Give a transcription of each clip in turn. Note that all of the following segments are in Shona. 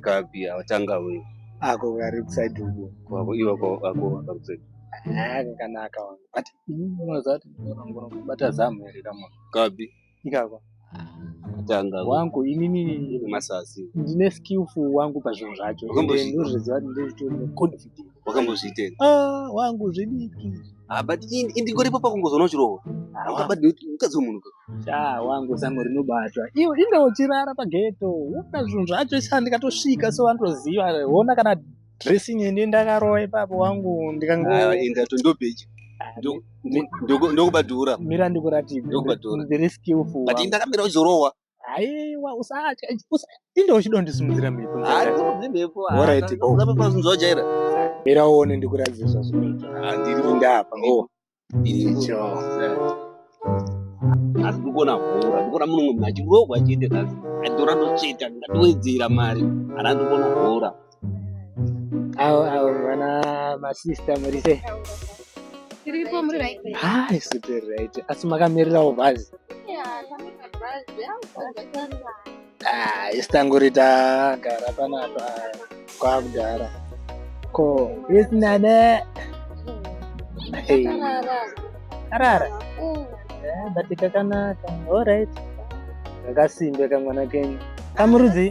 kapi atanga we ako kari kuside uko kwako iwe ako ako akakuside kanaka wangu but unozati ngoro kubata zamu here kama kapi ikako atanga wangu inini masasi ndine skillful wangu pazvinhu zvacho ndozviziva kuti ndiri confident wakambozviitei ah wangu zvidiki ah but indingoripo pakungozoona chirohwa ukadzi wemunhu sha wangu zano rinobatwa iwe inge uchirara pageto wona zvinhu zvacho sha ndikatosvika so vanotoziva wona kana dressing ini ndakarowa ipapo wangu ndikangoenda ah, tondobeji ndokubadhura mira ndikuratidze ndokubadhura very skillful but ndakamira uchizorohwa aiwa usatya inde uchidondisimudzira mhepo ndaiaorit zvaunzojaira mira uone ndikuratidze zvazvinoitainda apa icho asi ndikuona hora ndikuona munhu mumwe achirogwa chete asi atora ndotsveta ndikatowedzera mari ana ndikuona hora Awo awo vana masista muri sei? Tiripo muri right. Ah, isu tiri right. Asi makamirirawo bhazi. Ah, isu tangori tagara panapa kwakudhara. Ko, isi nane. Hey. Karara. Yeah, but kakanaka. All right. Kakasimbe kamwana kenyu. Kamurudzi?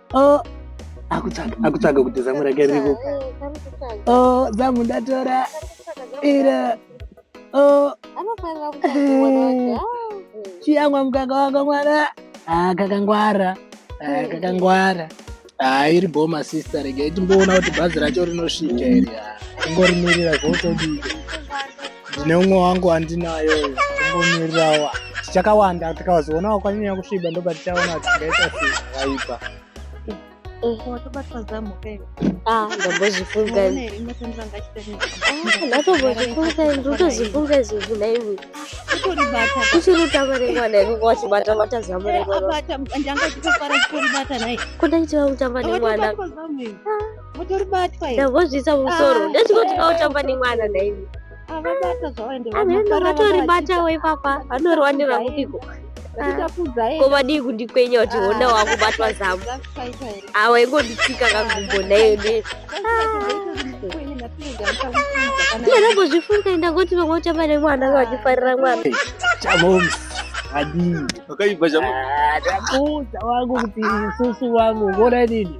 oh akutsvaga akutsvaga kuti zamu rake ririko oh zamu ndatora ira oh chiyamwa mukaka wako mwana ah kakangwara ah kakangwara ah iri boma sister rega itimboona kuti bhazi racho rinosvika iri ah ingorimirira zvotodii ndine umwe wangu wandinayo tombomirirawo tichakawanda tikazoona wakwanyanya kusviba ndoba tichaona kuti tingaita sei zvakaipa watobatwa zamu pere ah ndambozifunga ndatombozifunga ndotozifunga izvozvi naiwe kutoribata kuchirutama remwana iko kwachibata bata zamu remwana abata ndanga chitofara kutoribata naye kudaitira kutamba nemwana Mutoribatwa here? Ndavozvisa musoro. Ah, Ndati kuti kautamba eh, nemwana nhaimi. Avabata zvawaende. Vatoribatawo ipapa. Vanoriwanira kupiko. Ko vadii kundikwenya kuti honda wakubatwa zamu. Awa ingonditsika kagumbo nayo ne. Ndiye ndambozvifunga ndangoti vamwe utamba nemwana vachifarira mwana. Chamoms adii wakaipa chamu ah, ndakuudza wangu kuti isusu wangu ngona nini